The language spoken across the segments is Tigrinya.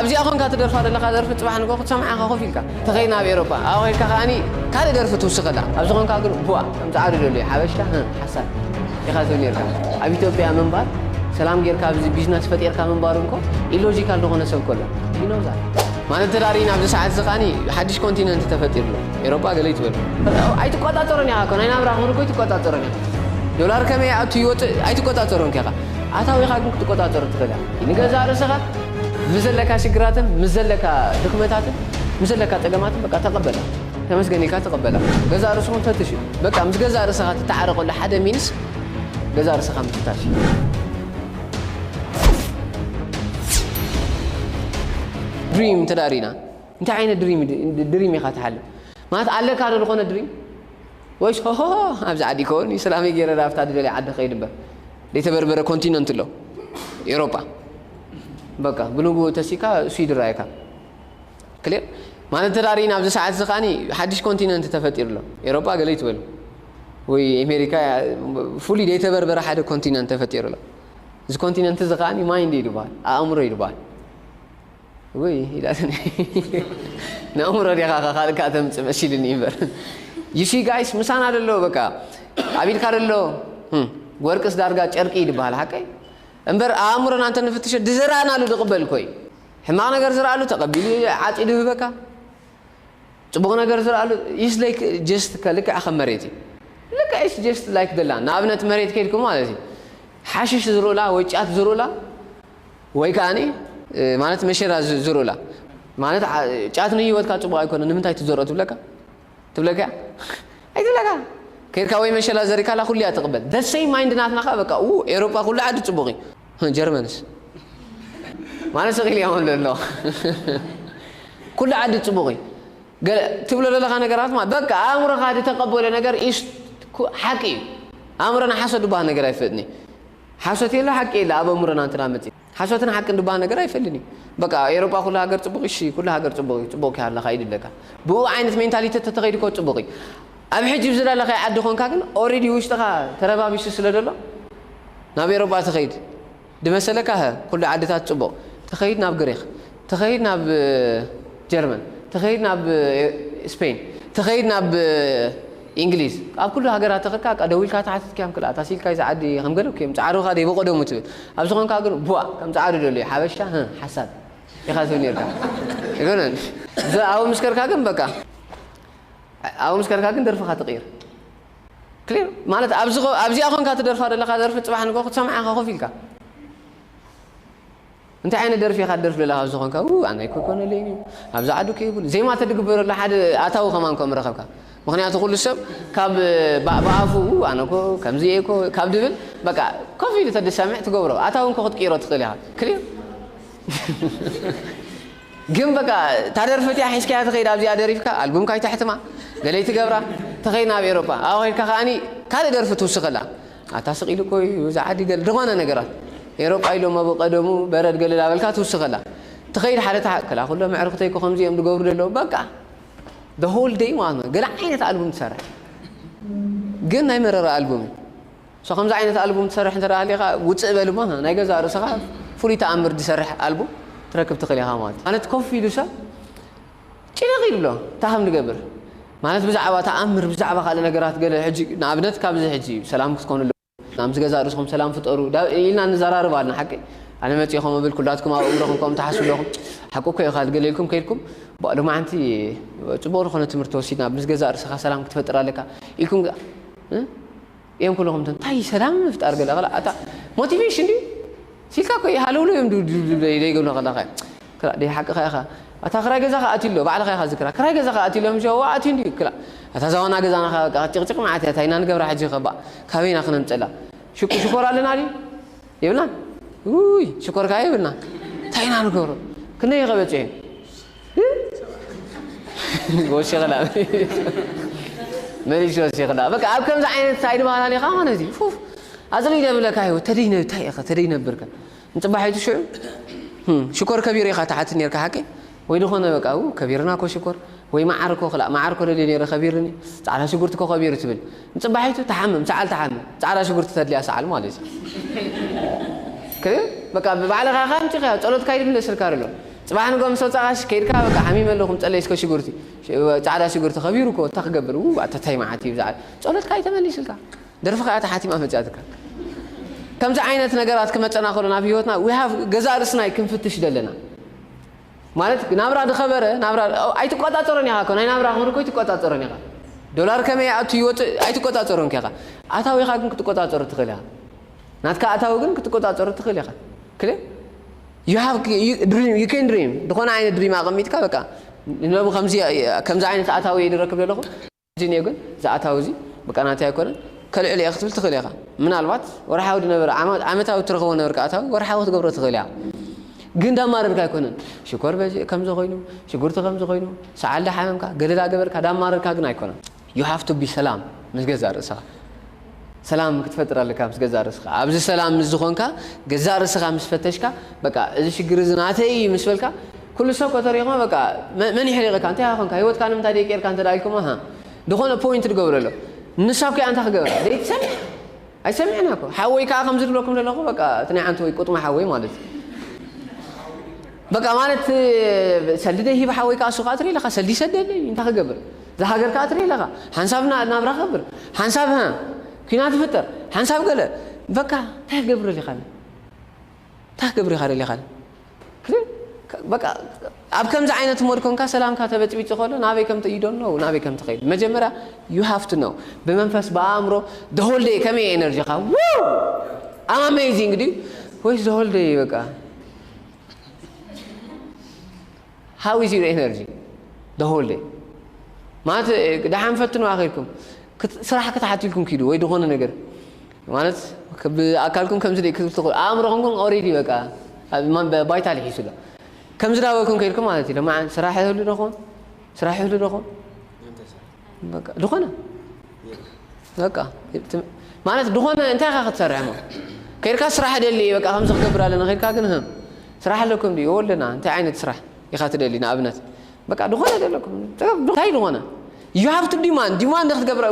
ኣብዚኣ ኮንካ ትደርፋ ዘለካ ደርፊ ጽባሕ ንግሆ ክትሰምዓ ኢካ ኮፍ ኢልካ ተከይ ናብ ኤሮፓ ኣብኣ ከድካ ከኣኒ ካልእ ደርፊ ትውስከላ ኣብዚ ኮንካ ግን ቡኣ ከም ጻዕዱ ደልዩ ሓበሻ ህም ሓሳድ ኢካ ትብል ኔርካ ኣብ ኢትዮጵያ ምንባር ሰላም ጌርካ ኣብዚ ቢዝነስ ፈጢርካ ምንባር እንኮ ኢሎጂካል ዝኮነ ሰብ ኮሎ ይኖዛ ማለት ተዳሪና ኣብዚ ሰዓት እዚ ከዓኒ ሓድሽ ኮንቲነንት ተፈጢሩ ኣሎ ኤሮጳ ገለ ይትበል ኣይትቆጻጸሮን ኢኻ ኮ ናይ ናብራ ክብሪ ኮ ኣይትቆጻጸሮን ኢኻ ዶላር ከመይ ይኣቱ ይወፅእ ኣይትቆጻጸሮን ከኻ ኣታዊኻ ግን ክትቆጻጸሮ ትኽእል ኢኻ ንገዛእ ርእስኻ ምስ ዘለካ ሽግራትን ምስ ዘለካ ድኽመታትን ምስ ዘለካ ጸገማትን በቃ ተቐበላ ተመስገን ኢልካ ተቐበላ ገዛእ ርእስኹም ፈትሽ እዩ በቃ ምስ ገዛእ ርእስኻ ትተዓረቐሉ ሓደ ሚንስ ገዛእ ርእስኻ ምፍታሽ እዩ። ድሪም እንተ ሪኢና እንታይ ዓይነት ድሪም ድሪም ኢኻ ትሓልም ማለት ኣለካ ዶ ዝኾነ ድሪም ወይስ ሆሆ ኣብዚ ዓዲ ይከውን እዩ ሰላመይ ገይረ ኣብታ ድደልያ ዓዲ ከይድ እምበር ዘይተበርበረ ኮንቲነንት ኣሎ ኤውሮጳ በቃ ብንብኡ ተሲካ እሱ ይድራየካ ክሊር ማለት እንተ ርኢና ኣብዚ ሰዓት እዚ ከዓኒ ሓድሽ ኮንቲነንት ተፈጢሩ ኣሎ ኤሮጳ ገለ ይትበሉ ወይ ኣሜሪካ ፍሉይ ዘይተበርበረ ሓደ ኮንቲነንት ተፈጢሩ ኣሎ እዚ ኮንቲነንት እዚ ከዓኒ ማይንድ እዩ ዝበሃል ኣእምሮ እዩ ዝበሃል ወይ ኢላትኒ ንእምሮ ዲኻ ካልእ ከዓ ተምፅእ መሲልኒ እምበር ዩሲ ጋይስ ምሳና ደሎ በቃ ኣብ ኢድካ ደሎ ወርቅስ ዳርጋ ጨርቂ ይድበሃል ሓቀይ እምበር ኣኣምሮና እንተ ንፍትሾ ድዘራእናሉ ድቕበል እኮ እዩ ሕማቕ ነገር ዝርኣሉ ተቐቢሉ ዓጺዱ ይህበካ ጽቡቕ ነገር ዝርኣሉ ኢስ ላይክ ጀስት ከልክዕ ከም መሬት እዩ ልክዕ ኢስ ጀስት ላይክ ደላ ንኣብነት መሬት ከይድኩም ማለት እዩ ሓሽሽ ዝርኡላ ወይ ጫት ዝርኡላ ወይ ከዓኒ ማለት መሸራ ዝርኡላ ማለት ጫት ንህይወትካ ጽቡቕ ኣይኮነ ንምንታይ ትዘርኦ ትብለካ ትብለካ እያ ኣይትብለካ ከይድካ ወይ መሸላ ዘሪካላ ኩሉ እያ ትቅበል the same mind ናትና ከኣ በቃ ኡ ኤሮጳ ኩሉ ዓዲ ጽቡቅ እዩ ህ ጀርመንስ ማለት ስቅ ኢሉ ያመሉ ኣለዋ ኩሉ ዓዲ ጽቡቅ እዩ ገለ ትብሎ ዘለካ ነገራት ማለት በቃ ኣእምሮካ ዝተቀበሎ ነገር ኢስ ሓቂ እዩ ኣእምሮና ሓሶት ድበሃል ነገር ኣይፈጥን እዩ ሓሶት የለ ሓቂ የለ ኣብ ኣእምሮና እንተ መጺ ሓሶትን ሓቅን ድባሃል ነገር ኣይፈልን እዩ በቃ ኤሮጳ ኩሉ ሃገር ጽቡቅ እሺ ኩሉ ሃገር ጽቡቅ እዩ ጽቡቅ ከይ ኣለካ ይድለካ ብኡ ዓይነት ሜንታሊተት ተተኸይዱ ኮ ጽቡቅ እዩ ኣብ ሕጂ ኣብ ዝደለኻዮ ዓዲ ኮንካ ግን ኦሬዲ ውሽጥኻ ተረባቢሱ ስለ ደሎ ናብ ኤሮጳ ትኸይድ ድመሰለካ ሀ ኩሉ ዓድታት ጽቡቅ ትኸይድ ናብ ግሪኽ ትኸይድ ናብ ጀርመን ትኸይድ ናብ ስፐይን ትኸይድ ናብ ኢንግሊዝ ኣብ ኩሉ ሃገራት ተኸድካ በቃ ደዊልካ ትሓትት ኪያም ክልኣ ታስ ኢልካ ኢዛ ዓዲ ከም ገለ ኩዮም ጻዕሩኻ ደይ ብቐደሙ ትብል ኣብዚ ኮንካ ግን ቡእ ከም ጻዕሩ ደልዩ ሓበሻ ህህ ሓሳድ ኢኻ ትብል ኔርካ ኣይኮነን ብ ኣብኡ ምስ ከድካ ግን በቃ ኣብኡ ምስ ከድካ ግን ደርፍኻ ትቕይር ክሊር ማለት ኣብዚ ኣብዚኣ ኮንካ ትደርፋ ዘለኻ ደርፊ ጽባሕ ንግሆ ክትሰምዓ ኢኻ ኮፍ ኢልካ እንታይ ዓይነት ደርፊ ኢኻ ትደርፍ ለለኻ ዝኾንካ ው ኣነ ኣይኮነለይን እዩ ኣብዚ ዓዱ ከይብሉ ዜማ ተድግበረሉ ሓደ ኣታዊ ከማን ከም ረኸብካ ምክንያቱ ኩሉ ሰብ ካብ ብኣፉ ው ኣነ ኮ ከምዚ እየ ኮ ካብ ድብል በቃ ኮፍ ኢሉ ተድሰምዕ ትገብሮ ኣታዊ እንኮ ክትቅይሮ ትኽእል ኢኻ ክሊር ግን በቃ ታደርፊ እቲኣ ሒዝካያ ትኸይድ ኣብዚኣ ደሪፍካ ኣልቡም ካይተሕትማ ገለይ ትገብራ ተኸይድ ናብ ኤሮፓ ኣብኡ ከይድካ ከዓኒ ካልእ ደርፊ ትውስኸላ ኣታ ስቅ ኢሉ እኮ እዩ እዚ ዓዲ ገለ ድኾነ ነገራት ኤሮጳ ኢሎም ኣብ ቀደሙ በረድ ገለ ዳበልካ ትውስኸላ ትኸይድ ሓደ ትሓ ክላ ኩሎም ኣዕርኽተይ እኮ ከምዚ እዮም ዝገብሩ ዘለዉ በቃ the whole day ማለት ነው ገለ ዓይነት ኣልቡም ትሰርሕ ግን ናይ መረረ ኣልቡም እዩ ሶ ከምዚ ዓይነት ኣልቡም ትሰርሕ እንተ ሃሊኻ ውፅእ በል እሞ ናይ ገዛ ርእስኻ ፍሉይ ተኣምር ዝሰርሕ ኣልቡም ትረክብ ትኽእል ኢኻ ማለት ማለት ኮፍ ኢሉ ሰብ ጭንቕ ይብሎ እንታይ ከም ዝገብር ማለት ብዛዕባ ተኣምር ብዛዕባ ካልእ ነገራት ገለ ሕጂ ንኣብነት ካብዚ ሕጂ ሰላም ክትኮኑ ኣለኩም ኣብዚ ገዛ ርእስኹም ሰላም ፍጠሩ ኢልና ንዘራርብ ኣልና ሓቂ ኣነ መጺ ከም እብል ኩላትኩም ኣብ እምሮኹም ከም ትሓስቡ ኣለኹም ሓቁ እኮ ኢኻ ገለ ኢልኩም ከይልኩም ባእ ሎማዓንቲ ጽቡቕ ዝኾነ ትምህርቲ ወሲድና ምስ ገዛ ርእስኻ ሰላም ክትፈጥር ኣለካ ኢልኩም እዮም ኩሉኹም እቶም ታይ ሰላም ምፍጣር ገለ ክላ ኣታ ሞቲቬሽን ድዩ ሲልካ እኮ ሃለውለው እዮም ድብልብልብለይ ዘይገብሉ ከለኸ ክላ ደይ ሓቅኻ ኢኻ ኣታ ክራይ ገዛኻ ኣትዩ ኣሎ ባዕልኻ ኢኻ ዝክራ ክራይ ገዛኻ ኣትዩ ኣሎ ምሸ ዋ ኣትዩ እንድዩ ክላ ኣታ እዛ ዋና ገዛና ከ በቃ ጭቕጭቕ መዓት እያ ታይ ኢና ንገብራ ሕጂ ከ ባእ ካበይ ኢና ክነምፀላ ሽቁ ሽኮር ኣለና ድዩ የብልናን ውይ ሽኮር ከዓ የብልና ታይ ኢና ንገብሮ ክንደይ ከ በፂሑ ወሲኽላ መሊሽ ወሲኽላ በቃ ኣብ ከምዚ ዓይነት ሳይድ ማላሊኻ ማለት እዩ ፉፍ ኣዝለይ ደብለካ ይወ ተደይ ነ እንታይ ኢኻ ተደይ ነብርከ ንጽባሒቱ ሽዑ ህም፣ ሽኮር ከቢር ኢኻ ትሓቲ ነርካ ሓቂ ወይ ዝኾነ በቃ ው ከቢርና ኮ ሽኮር ወይ መዓር ኮ ክላእ መዓር ኮ ደልየ ነይረ ከቢርኒ ጻዕዳ ሽጉርቲ ኮ ከቢሩ ትብል ንጽባሒቱ ትሓምም ሰዓል ትሓምም ጻዕዳ ሽጉርቲ ተድልያ ሰዓል ማለት እዩ ክሪም በቃ ብባዕልኻ ኢኻ ኣምጺኻ ያው ጸሎትካ እዩ ዝምለስልካ ዘሎ ጽባሕ ንግሆ ምስ ወጻኻሽ ከይድካ በቃ ሓሚመ ኣለኹ ምጸለይ እስከ ሽጉርቲ ጻዕዳ ሽጉርቲ ከቢሩ እኮ እንታይ ክገብር ው ኣታ ታይ መዓት እዩ ብዛዕባ ጸሎትካ እዩ ተመሊስልካ ደርፍኻ እያ ተሓቲማ መጽያትካ ከምዚ ዓይነት ነገራት ክመጸና ከሎ ናብ ህይወትና we have ገዛእ ርእስና እዩ ክንፍትሽ ዘለና ማለት ናብራ ድኸበረ ናብራ ኣይትቆጻጸሮን ኢኻ እኮ ናይ ናብራ ክብሪ እኮ ኣይትቆጻጸሮን ኢኻ ዶላር ከመይ ይኣቱ ይወጽእ ኣይትቆጻጸሮን ኬኻ ኣታዊኻ ግን ክትቆጻጸሮ ትኽእል ኢኻ ናትካ ኣታዊ ግን ክትቆጻጸሮ ትኽእል ኢኻ ክለ you have you dream you can dream ዝኾነ ዓይነት ድሪም ኣቐሚጥካ በቃ ንነቡ ከምዚ ከምዚ ዓይነት ኣታዊ እየ ድረክብ ዘለኹ ጅንዮ ግን እዚ ኣታዊ እዚ በቃ ናተይ ኣይኮነን ከልዕል እየ ክትብል ትኽእል ኢኻ። ምናልባት ወርሓዊ ዝነበረ ዓመታዊ እትረኽቦ ዝነበርካ ኣታዊ ወርሓዊ ክትገብሮ ትኽእል ኢኻ። ግን እንዳማረርካ ኣይኮነን ሽኮር በዚ ከምዚ ኮይኑ ሽጉርቲ ከምዚ ኮይኑ ሰዓል ዳሓመምካ ገለ ዳገበርካ ዳማረርካ ግን ኣይኮነን። You have to be ሰላም ምስ ገዛእ ርእስኻ። ሰላም ክትፈጥር ኣለካ ምስ ገዛእ ርእስካ ኣብዚ ሰላም ምስ ዝኮንካ ገዛእ ርእስካ ምስ ፈተሽካ በቃ እዚ ሽግር እዚ ናተይ እዩ ምስ በልካ ኩሉ ሰብ ከተሪክሞ በቃ መን ይሕሪቅካ እንታይ ኮንካ ሂወትካ ንምንታይ ደይ ቀርካ እንተ ኢልኩሞ ሃ ድኮነ ፖይንት ድገብረ ኣሎ ንሳብ ከኣ እንታይ ክገብራ ደይ ትሰምዕ ኣይሰምዕና እኮ ሓወይ ከኣ ከምዚ ድብለኩም ዘለኩ በቃ እቲ ናይ ዓንተ ወይ ቁጥማ ሓወይ ማለት እዩ በቃ ማለት ሰልዲ ደይ ሂብ ሓወይ ከኣ ሱቅ ኣትሪ ኢልካ ሰልዲ ይሰደለይ እንታይ ክገብር ዝሃገር ከኣ ትርኢ ኣለኻ ሓንሳብ ናብራ ክኸብር ሓንሳብ ሀ ኩናት ይፍጠር ሓንሳብ ገለ በቃ ታይ ክገብር ደሊኻኒ ታይ ክገብር ኢኻ ደሊኻኒ በቃ ኣብ ከምዚ ዓይነት ሞድ ኮንካ ሰላምካ ተበጽቢጹ ከሎ ናበይ ከም ዩ ዶንት ኖው ናበይ ከም ትኸይድ መጀመርያ ዩ ሃቭ ቱ ኖው ብመንፈስ ብኣእምሮ the whole day ከመይ እዩ ኤነርጂኻ ኣም ኣሜዚንግ ድዩ ወይስ the whole day በቃ How is your energy the whole day ማለት ደሓን ፈትኑ ኣኺልኩም ስራሕ ክትሓትልኩም ኪዱ ወይ ዝኾነ ነገር ማለት ብኣካልኩም ከምዚ ደይ ክትብል ትኽእሉ ኣእምሮኹም ግን ኦሬዲ በቃ ባይታ ልሒሱ ኣሎ ከምዚ ዳበልኩም ከይልኩም ማለት እዩ ለማዓን ስራሕ ይህሉ ዶኾን ስራሕ ይህሉ ዶኾን በቃ ድኾነ በቃ ማለት ድኾነ እንታይ ኢኻ ክትሰርሕ እሞ ከይድካ ስራሕ ደሊ በቃ ከምዚ ክገብር ኣለና ከይድካ ግን ህም ስራሕ ኣለኩም ድዩ ወለና እንታይ ዓይነት ስራሕ ኢኻ ትደሊ ንኣብነት በቃ ድኾነ ደለኩም እንታይ ድኾነ you have to demand demand ክትገብር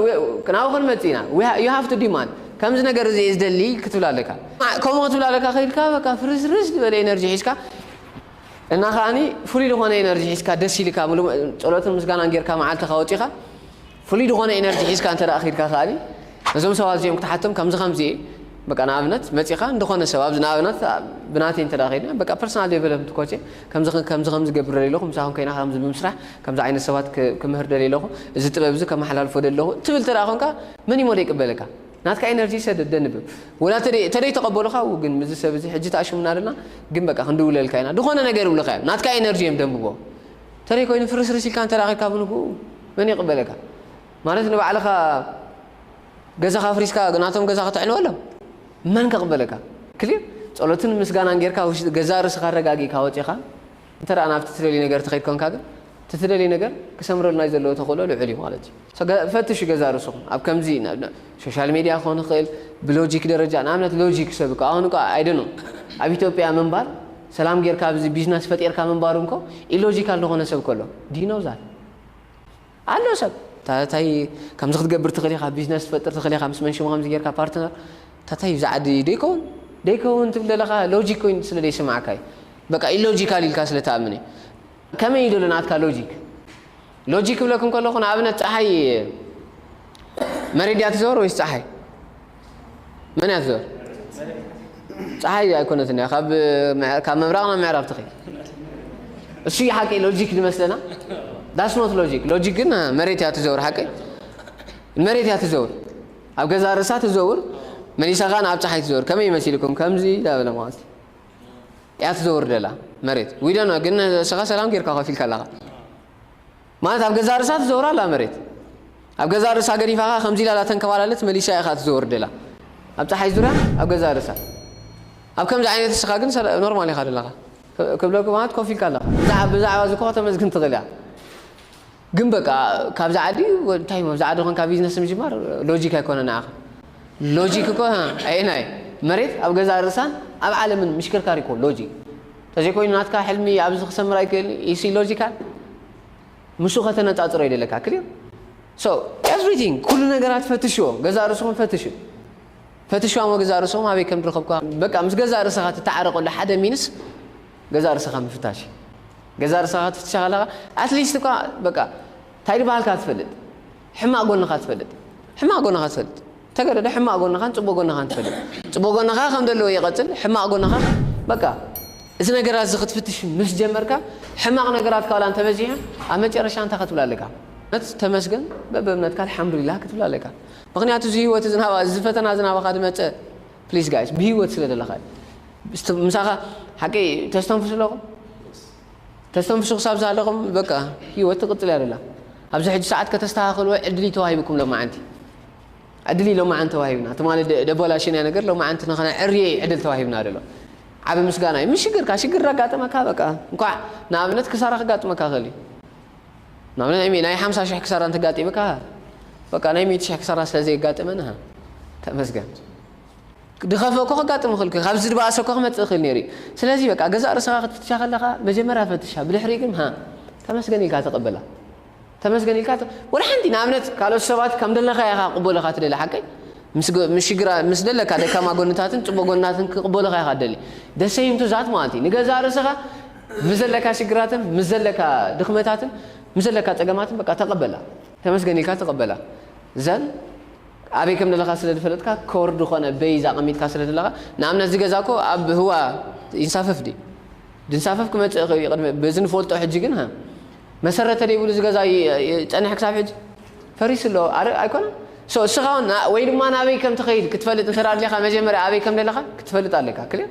ናብኡ ክንመጽእ ኢና you have to demand ከምዚ ነገር እዚ ዝደሊ ክትብል ኣለካ ከምኡ ክትብል ኣለካ ከይድካ በቃ ፍርስርስ ዝበለ ኤነርጂ ሒዝካ እና ከኣኒ ፍሉይ ዝኾነ ኢነርጂ ሒዝካ ደስ ኢልካ ምሉእ ጸሎትን ምስጋናን ጌርካ መዓልትኻ ወጺኻ ፍሉይ ዝኾነ ኢነርጂ ሒዝካ እንተደኣ ኬድካ ከኣኒ ነዞም ሰባት እዚኦም ክትሓቶም ከምዚ ከምዚ እየ በቃ ንኣብነት መጺኻ እንደኾነ ሰብ ኣብዚ ንኣብነት ብናተይ እንተደኣ ኬድና በቃ ፐርሰናል ዴቨሎፕመንት ኮቼ ከምዚ ከምዚ ከምዚ ገብር ደልየ ኣለኹ ምሳኹም ኮይና ከምዚ ብምስራሕ ከምዚ ዓይነት ሰባት ክምህር ደልየ ኣለኹ እዚ ጥበብ እዚ ከመሓላልፎ ደለኹ ትብል እንተደኣ ኮንካ መን እዩሞ ዘይቅበለካ ናትካ ኢነርጂ ሰደድ ደንብብ ወላ ተደይ ተደይ ተቀበሉካ እው ግን ምዚ ሰብ እዚ ሕጂ ተኣሽሙና ደልና ግን በቃ ክንድውለልካ ኢና ድኮነ ነገር ይብሉካ እዮም ናትካ ኢነርጂ እዮም ደንብቦ ተደይ ኮይኑ ፍርስርስ ኢልካ እንተ ኬድካ ብንግኡ መን ይቅበለካ ማለት ንባዕልካ ገዛካ ኣፍሪስካ ናቶም ገዛ ከተዕንወሎም መን ከቅበለካ ክሊር ጸሎትን ምስጋናን ጌርካ ገዛእ ርእስካ ኣረጋጊእካ ወጺኻ እንተ ናብቲ ትደልዮ ነገር ትኸይድ ኮንካ ግን እቲ ትደልዮ ነገር ክሰምረሉናዩ ዘለዎ ተኽእሎ ልዑል እዩ ማለት እዩ። ፈትሹ ገዛ ርእስኹም ኣብ ከምዚ ሶሻል ሜድያ ክኾን ይኽእል ብሎጂክ ደረጃ ንኣብነት ሎጂክ ሰብ እኮ ኣሁን እኮ ኣይ ዶኖ ኣብ ኢትዮጵያ ምንባር ሰላም ጌርካ ኣብዚ ቢዝነስ ፈጢርካ ምንባር እንኮ ኢሎጂካል ዝኾነ ሰብ እኮ ኣሎ ዲዩ ኖው ዛት ኣሎ ሰብ እታ ታይ ከምዚ ክትገብር ትክእል ኢካ ቢዝነስ ትፈጥር ትክእል ኢካ ምስ መን ሽሙ ከምዚ ጌርካ ፓርትነር እታ ታይ እዚ ዓዲ ዶ ይከውን ዶ ኣይከውን ትብል ዘለካ ሎጂክ ኮይኑ ስለ ዘይስምዓካ እዩ በቃ ኢሎጂካል ኢልካ ስለ ትኣምን እዩ ከመይ እዩ ዶ ናትካ ሎጂክ ሎጂክ ክብለኩም ከለኩ ንኣብነት ጸሓይ መሬት ድያ ትዞር ወይስ ጸሓይ መን እያ ትዞር? ፀሓይ ኣይኮነትን እያ ካብ ምብራቕ ናብ ምዕራብ ትኸይድ። እሱ እዩ ሓቂ ሎጂክ ዝመስለና ዳስኖት ሎጂክ ሎጂክ ግን መሬት እያ ትዘውር ሓቂ መሬት እያ ትዘውር ኣብ ገዛ ርእሳ ትዘውር መሊሳ ከዓ ንኣብ ፀሓይ ትዘውር ከመይ ይመሲልኩም ከምዚ ዳበለ ማለት እያ ትዘውር ደላ መሬት ዊደኖ ግን ስኻ ሰላም ጌርካ ከፊልካ ኣለኻ ማለት ኣብ ገዛእ ርእሳ ትዘውር ኣላ መሬት ኣብ ገዛእ ርእሳ ገዲፋ ከኣ ከምዚ ኢላ ዳተንከባለለት መሊሳ ኢኻ ትዘወርደላ ኣብ ጸሓይ ዙርያ ኣብ ገዛእ ርእሳ ኣብ ከምዚ ዓይነት እስኻ ግን ኖርማል ኢኻ ዘለኻ ክብለኩም ማለት ኮፍ ኢልካ ኣለኻ ብዛዕባ ብዛዕባ እዚ እኮ ከተመስግን ትኽእል ኢኻ ግን በቃ ካብዚ ዓዲ እንታይ ኣብዚ ዓዲ ኮንካ ቢዝነስ ምጅማር ሎጂክ ኣይኮነ ንዓኻ ሎጂክ እኮ ኣየናይ መሬት ኣብ ገዛእ ርእሳን ኣብ ዓለምን ምሽክርካር እኮ ሎጂክ ተዘይኮይኑ ናትካ ሕልሚ ኣብዚ ክሰምር ኣይክእልን ኢዩ ሲ ሎጂካል ምሱ ከተነጻጽሮ ይደለካ ክሊር ሶ ኤቭሪቲንግ ኩሉ ነገራት ፈትሽዎ ገዛእ ርእስኹም ፈትሹ ፈትሽዋ እሞ ገዛእ ርእስኹም ኣበይ ከም ድረኸብካ በቃ ምስ ገዛእ ርእስኻ ትተዓረቀሉ ሓደ ሚንስ ገዛእ ርእስኻ ምፍታሽ እዩ ገዛእ ርእስኻ ክትፍትሻ ከለኻ ኣትሊስት እኳ በቃ እንታይ ድበሃልካ ትፈልጥ ሕማቅ ጎንኻ ትፈልጥ ሕማቅ ጎንኻ ትፈልጥ ተገደደ ሕማቅ ጎንኻን ጽቡቅ ጎንኻን ትፈልጥ ጽቡቅ ጎንኻ ከም ዘለዎ ይቀጽል ሕማቅ ጎንኻ በቃ እዚ ነገራት እዚ ክትፍትሽ ምስ ጀመርካ ሕማቅ ነገራት ካላ እንተበዚሖም ኣብ መጨረሻ እንታይ ክትብል ኣለካ እምነት ተመስገን በብእምነትካ ኣልሓምዱሊላህ ክትብል ኣለካ ምክንያቱ እዚ ህይወት እዚ ናባ እዚ ፈተና እዚ ናባኻ ዝመጸ ፕሊስ ጋይስ ብህይወት ስለ ዘለኻ ምሳኻ ሓቂ ተስተንፍሱ ኣለኹም ተስተንፍሱ ክሳብ ዝሃለኹም በቃ ሂወት ትቅጽል እያ ዘላ ኣብዚ ሕጂ ሰዓት ከተስተኻኽልዎ ዕድል እዩ ተዋሂብኩም ሎማዓንቲ ዕድል እዩ ሎማዓንቲ ተዋሂብና ትማሊ ደበላሽናዮ ነገር ሎማዓንቲ ንኸነዕርዮ እዩ ዕድል ተዋሂብና ዘሎ ዓቢ ምስጋና እዩ ምስ ሽግርካ ሽግር ዳጋጠመካ በቃ እንኳዕ ንኣብነት ክሳራ ከጋጥመካ ይኽእል እዩ ንኣብነት ናይ ናይ ሓምሳ ሽሕ ክሳራ እንተጋጢምካ በቃ ናይ ሚእቲ ሽሕ ክሳራ ስለ ዘየጋጠመና ተመስገን ክድኸፈ እኮ ከጋጥም ይኽእል እኮ እዩ ካብዚ ድባኣሰ እኮ ክመጽእ ይኽእል ነይሩ እዩ ስለዚ በቃ ገዛእ ርእሰኻ ክትፍትሻ ከለኻ መጀመርያ ፈትሻ ብድሕሪኡ ግን ሃ ተመስገን ኢልካ ተቐበላ ተመስገን ኢልካ ወላ ሓንቲ ንኣብነት ካልኦት ሰባት ከም ደለኻዮ ኢኻ ክቕበሉ ኢኻ ትደሊ ሓቀይ ምስ ሽግራ ምስ ደለካ ደካማ ጎንታትን ጽቡቕ ጎንታትን ክቕበሉ ኢኻ ኢኻ ትደሊ ደሰይምቱ ዛት ማለት እዩ ንገዛእ ርእሰኻ ምስ ዘለካ ሽግራትን ምስ ዘለካ ድኽመታትን ምስ ዘለካ ጸገማትን በቃ ተቐበላ ተመስገን ኢልካ ተቐበላ ዘን ኣበይ ከም ደለኻ ስለ ድፈለጥካ ከወርድ ኾነ በይዝ ኣቐሚጥካ ስለ ደለኻ ንኣብነት እዚ ገዛ እኮ ኣብ ህዋ ይንሳፈፍ ድዩ ድንሳፈፍ ክመጽእ ይኽእል እዩ ቅድሚ በዚ ንፈልጦ ሕጂ ግን ሃ መሰረተ ደይብሉ እዚ ገዛ ይጸንሕ ክሳብ ሕጂ ፈሪሱ ኣሎ ኣረ ኣይኮነን ሶ እስኻ ወይ ድማ ናበይ ከም ትኸይድ ክትፈልጥ እንተ ኣድልኻ መጀመርያ ኣበይ ከም ደለኻ ክትፈልጥ ኣለካ ክልል